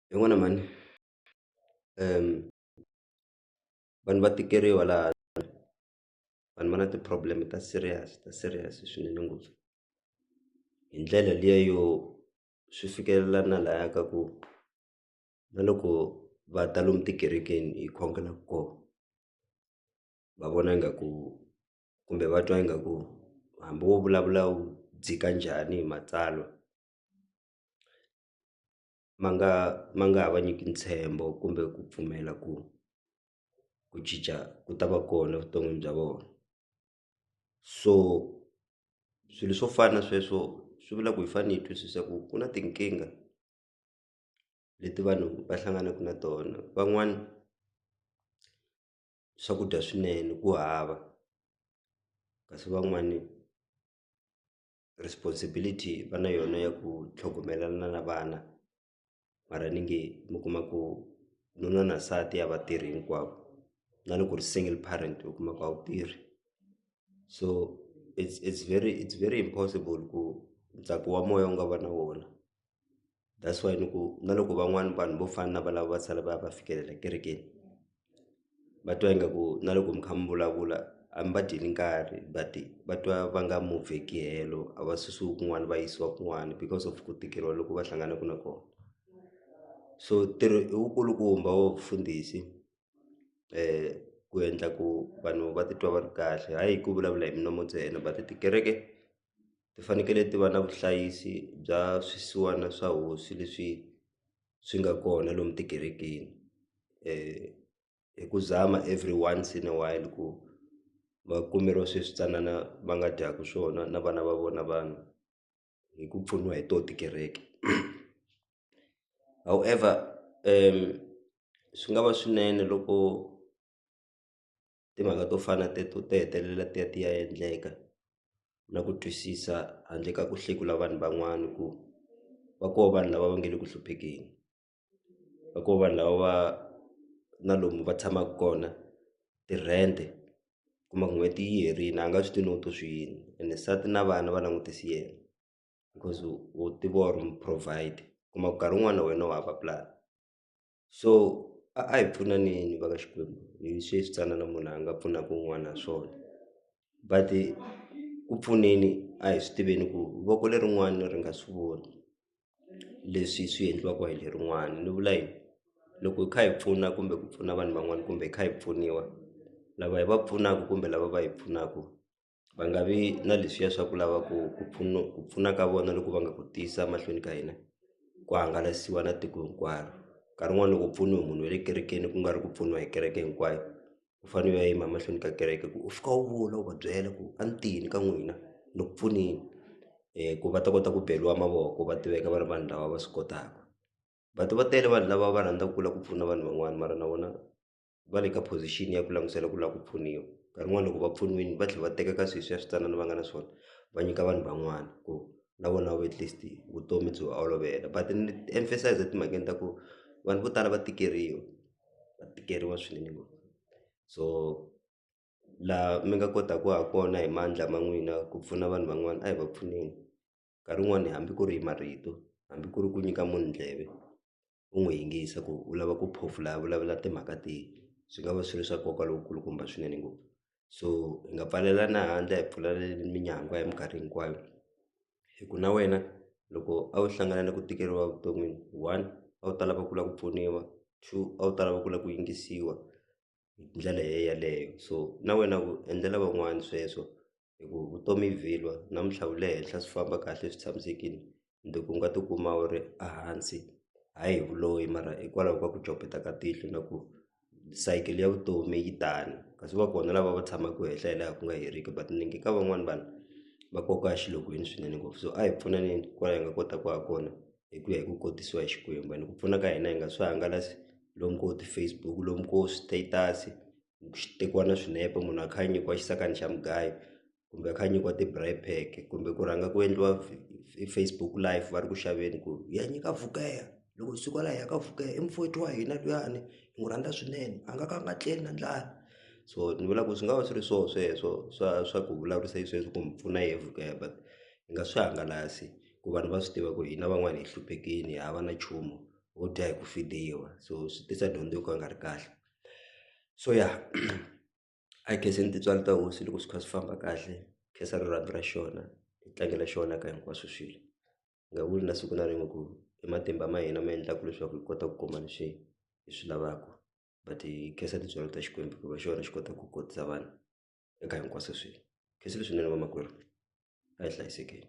hi n'wina mhani vanhu va tikeriwa laha vanhu va na ti problem ta serious ta serious swinene ngopfu hi ndlela liya yo swi fikelela na laya ka ku na loko va ta lomu tikerekeni hi khongela kona va vona ingaku kumbe va twa ingaku hambi wo vulavula u dzika njhani hi matsalwa. ma nga ma nga ha va nyiki ntshembo kumbe ku pfumela ku ku cinca ku ta va kona evuton'wini bya vona so swilo swo fana na sweswo swi vula ku hi fanele hi twisisa ku ku na tinkingha leti vanhu va hlanganaka na tona van'wani swakudya swinene ku hava kasi van'wani. responsibility va na yona ya ku tlhogomela na na vana mara ni nge mi kuma ku nuna na nsati a va tirhi hinkwavo na loko u ri single parent u kuma ku a wu tirhi so it's it's very it's very impossible ku ntsako wa moya u nga va na wona. that's why ni ku na loko van'wani vanhu vo fana na valavo va sala va ya va fikelela kerekeni va twa ingaku na loko mi kha mi vulavula a mi va dyeli nkarhi but va twa va nga moveki helo a va susiwi kun'wana va yisiwa kun'wana because of ku tikeriwa loko va hlanganaka na kona so ntirho i wu kulukumba wa vufundhisi ku endla ku vanhu va titwa va ri kahle hayi hi ku vulavula hi milomo ntsena but tikereke ti fanekele ti va na vuhlayisi bya swisiwana swa hosi leswi swi nga kona lomu tikerekeni hi ku zama every once in a while ku va kumeriwa swi swi tsanana va nga dyaku swona na vana va vona vanhu hi ku pfuniwa hi to tikereke however swi nga va swinene loko. timhaka to fana na teto ti hetelela ti ya ti ya endleka na ku twisisa handle ka ku hlekula vanhu van'wana ku va koho vanhu lava va nga le ku hluphekeni va koho vanhu lava va na lomu va tshamaka kona ti-rent kuma ku n'hweti yi herile a nga swi tivi no to swi yini ene nsati na vana va langutise yena because u tiva or mu-provide kuma ku nkarhi wun'wani na wena wa ha va pulani. so a a hi pfunaneni va ka Xikwembu hi sweswi tsanana munhu a nga pfunaka un'wana ha swona but ku pfuneni a hi swi tiveni ku voko lerin'wani ri nga swi voni leswi swi endliwaka hi lerin'wani ni vula yini loko hi kha hi pfuna kumbe ku pfuna vanhu van'wani kumbe hi kha hi pfuniwa lava hi va pfunaka kumbe lava va hi pfunaka. va nga vi na leswiya swa ku lava ku ku pfuna ku pfuna ka vona loko va nga ku tiyisa mahlweni ka hina ku hangalasiwa na tiko hinkwaro nkarhi wun'wani loko u pfuniwe munhu wa le kerekeni ku nga ri ku pfuniwa hi kereke hinkwayo u fane u ya yima mahlweni ka kereke ku u fika u vula u va byela ku a ni tini ka n'wina ni ku pfuneni ku va ta kota ku beriwa mavoko va tiveka va ri vanhu lava va swi kotaka va ti va tele vanhu lava va rhandzaku ku la ku pfuna vanhu van'wani mara na vona. va le ka position ya ku langutisela ku lava ku pfuniwa nkarhi wun'wani loko va pfuniwini va tlhela va teka ka sweswi ya switsanana va nga na swona va nyika vanhu van'wana ku na vona at least vutomi byi va olovela but ni emphasize etimhakeni ta ku vanhu vo tala va tikeriwa va tikeriwa swinene ngopfu so laha mi nga kotaku ha kona hi mandla ma n'wina ku pfuna vanhu van'wana a hi va pfuneni nkarhi wun'wani hambi ku ri hi marito hambi ku ri ku nyika munhu ndleve. u n'wi yingisa ku u lava ku phofula a vulavula timhaka tihi swi nga va swi ri swa nkoka lowu kulukumba swinene ngopfu so hi nga pfalelana handle hi pfula minyangwa hi minkarhi hinkwayo hi ku na wena loko a wu hlangana na ku tikeriwa evuton'wini one a wu ta lava ku lava ku pfuniwa two a wu ta lava ku lava ku yingisiwa. hi ndlela yeleyo so na wena u endlela van'wani sweswo hi ku vutomi i vhilwa namuntlha u le henhla swi famba kahle swi tshamisekile mundzuku u nga ti kuma u ri a hansi hayi hi vuloyi mara hikwalaho ka ku copeta ka tihlo na ku sayiti ya vutomi yi tani kasi va kona lava va tshamaka henhla hi laha ku nga heriki but ni nge ka van'wani vanhu va koka exilokweni swinene ngopfu so a hi pfuneni kwala hi nga kotaka ha kona. hi ku ya hi ku kotisiwa hi Xikwembu and ku pfuna ka hina hi nga swi hangalasi lomu ko ti-Facebook lomu ko status swi tekiwa na swinepe munhu a kha a nyikiwa xisakani xa mugayo kumbe a kha a nyikiwa ti-braai pack kumbe ku rhanga ku endliwa Facebook live va ri ku xaveni ku hi ya nyika vugeya loko hi suka la hi ya ka vugeya i mufowethu wa hina luyani hi n'wi rhandza swinene a nga ka a nga tleli na ndlala so ni vula ku swi nga va swi ri swona sweswo swa swa ku vulavurisa xisweswo ku mi pfuna hi vugeya but hi nga swi hangalasi. ku vanhu va swi tiva ku hina van'wani hi hluphekini hava na nchumu ho dya hi ku feriwa so swi tisa dyondzo yo ka yi nga ri kahle so ya a hi khenseni tintswalo ta hosi loko swi kha swi famba kahle khensa rirhandzu ra xona hi tlangela xona ka hinkwaswo swilo hi nga vuli na siku na rin'we ku i matimba ma hina ma endlaka leswaku hi kota ku kuma leswi hi swi lavaka but hi khensa tintswalo ta Xikwembu hikuva xona xi kota ku kotisa vanhu eka hinkwaswo swilo khensile swinene vamakwerhu a hi hlayisekeni.